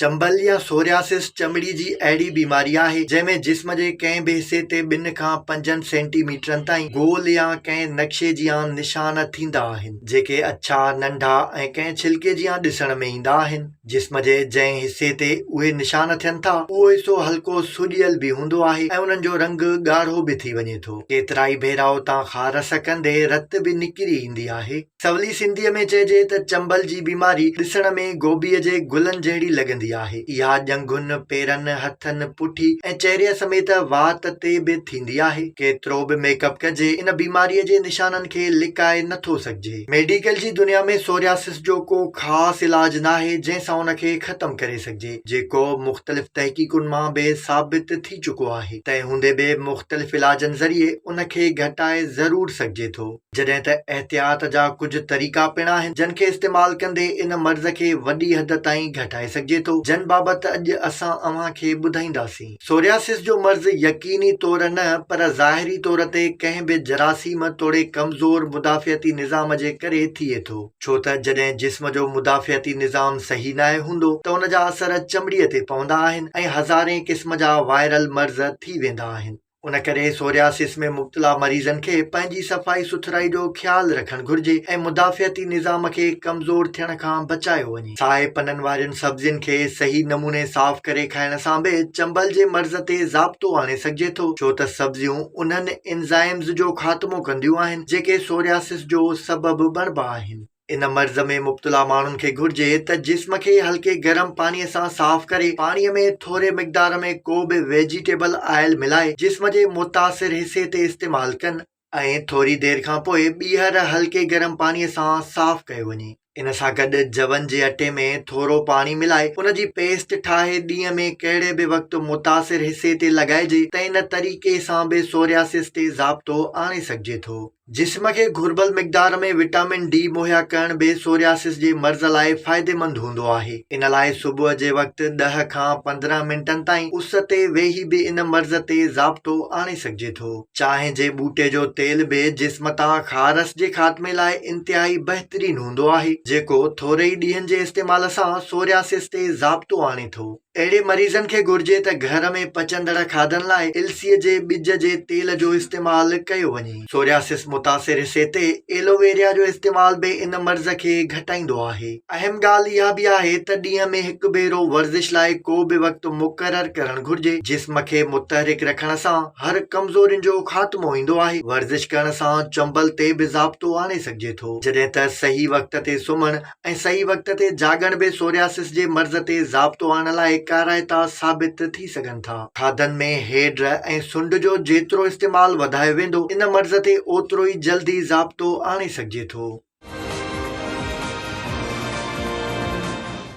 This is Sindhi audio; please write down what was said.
چنبل يا سورياسس چمڙي جي اهڙي بيماري آهي، جنهن ۾ جسم جي ڪنهن به حصي تي ٻن کان پنجن سينٽي ميٽرن تائين گول يا ڪنهن نقشي جيان نشان ٿيندا آهن، جيڪي اڇا، ننڍا ۽ ڪنهن ڇلڪي جيان ڏسڻ ۾ ايندا آهن. جسم جي جنهن حصي تي اهي نشان ٿين ٿا، اهو حصو هلڪو سوڄيل به هوندو آهي ۽ انهن جو رنگ ڳاڙهو به ٿي وڃي ٿو. ڪيترائي ڀيرا اتان کان رس ڪندي رت به نڪري ايندي آهي. سولي سنڌيء ۾ چئجي ته چنبل جي بيماري ڏسڻ ۾ گوبيء جي گلن جهڙي لڳندي آهي. اها ڄنگهن، پيرن، هٿن، پٺي ۽ چهري سميت وات تي به ٿيندي آهي. ڪيترو به ميڪ اپ ڪجي، ان بيماريء جي نشانن کي لڪائي نه ٿو سگهجي. ميڊيڪل جي دنيا ۾ سورياسس جو ڪو خاص علاج ناهي، جنهن سان ان کي ختم ڪري سگهجي، جيڪو مختلف تحقيقن مان به ثابت ٿي چڪو آهي. تنهن هوندي به مختلف علاجن ذريعي ان کي گهٽائي ضرور سگهجي ٿو. جڏهن ته احتياط جا ڪجهه طريقا پڻ آهن، جن کي استعمال ڪندي ان مرض کي وڏي حد تائين گهٽائي سگهجي ٿو، جن بابت اڄ اسان اوهان کي ٻڌائينداسين. سورياسس جو مرض يقيني طور نه پر ظاهري طور تي ڪنهن به جراثيم توڙي ڪمزور مدافعتي نظام جي ڪري ٿئي ٿو، ڇو ته جڏهن جسم جو مدافعتي نظام صحيح ناهي هوندو ته ان جا اثر چمڙي تي پوندا آهن ۽ هزارين قسم جا وائرل مرض ٿي ويندا آهن. ان ڪري سورياسس ۾ مبتلا مريضن کي پنهنجي صفائي سٿرائي جو خيال رکڻ گهرجي ۽ مدافعتي نظام کي ڪمزور ٿيڻ کان بچايو وڃي. سائي پنن وارين سبزين کي صحيح نموني صاف ڪري کائڻ سان به چنبل جي مرض تي ضابطو آڻي سگهجي ٿو، ڇو ته سبزيون انهن انزائمز جو خاتمو ڪنديون آهن، جيڪي سورياسس جو سبب بڻبا آهن. ان مرض ۾ مبتلا ماڻهن کي گهرجي ته جسم کي هلڪي گرم پاڻي سان صاف ڪري پاڻي ۾ ٿوري مقدار ۾ ڪو به ويجيٽيبل آئل ملائي جسم جي متاثر حصي تي استعمال ڪن ۽ ٿوري دير کان پوء ٻيهر هلڪي گرم پاڻي سان صاف ڪيو وڃي. ان سان گڏ جون جي اٽي ۾ ٿورو پاڻي ملائي ان جي پيسٽ ٺاهي ڏينهن ۾ ڪهڙي به وقت متاثر حصي تي لڳائجي ته ان طريقي سان به سورياسس تي ضابطو آڻي سگهجي ٿو. جسم کي گهربل مقدار ۾ وٽامن ڊي مهيا ڪرڻ به سورياسس جي مرض لاء فائديمند هوندو آهي. ان لاء صبح جي وقت ڏهه کان پندرهن منٽن تائين اس تي ويهي به ان مرض تي ضابطو آڻي سگهجي ٿو. چانهه جي ٻوٽي جو تيل به جسم تان خارس جي خاتمي لاء انتهائي بهترين هوندو آهي، جيڪو ٿوري ئي ڏينهن جي استعمال سان سورياسس تي ضابطو آڻي ٿو. اهڙي مريضن کي گهرجي ته گهر ۾ پچندڙ کاڌن لاء السيء جي ٻج جي تيل جو استعمال ڪيو وڃي. سورياسس متاثر حصي تي ايلوويريا جو استعمال به ان مرض کي گهٽائيندو آهي. اهم ڳالهه اها به آهي ته ڏينهن ۾ هڪ ڀيرو ورزش لاء ڪو به وقت مقرر ڪرڻ گهرجي. جسم کي متحرڪ رکڻ سان هر ڪمزورين جو خاتمو ايندو آهي. ورزش ڪرڻ سان چنبل تي به ضابطو آڻي سگهجي ٿو. جڏهن ته صحيح وقت تي سمهڻ ۽ صحيح وقت تي جاڳڻ به سورياسس جي مرض تي ضابطو آڻڻ لاء ڪارائتا ثابت ٿي سگهن ٿا. کاڌن ۾ هيڊ ۽ سنڊ جو جيترو استعمال وڌايو ويندو، ان مرض تي اوترو ئي جلدي ضابطو آڻي سگهجي ٿو.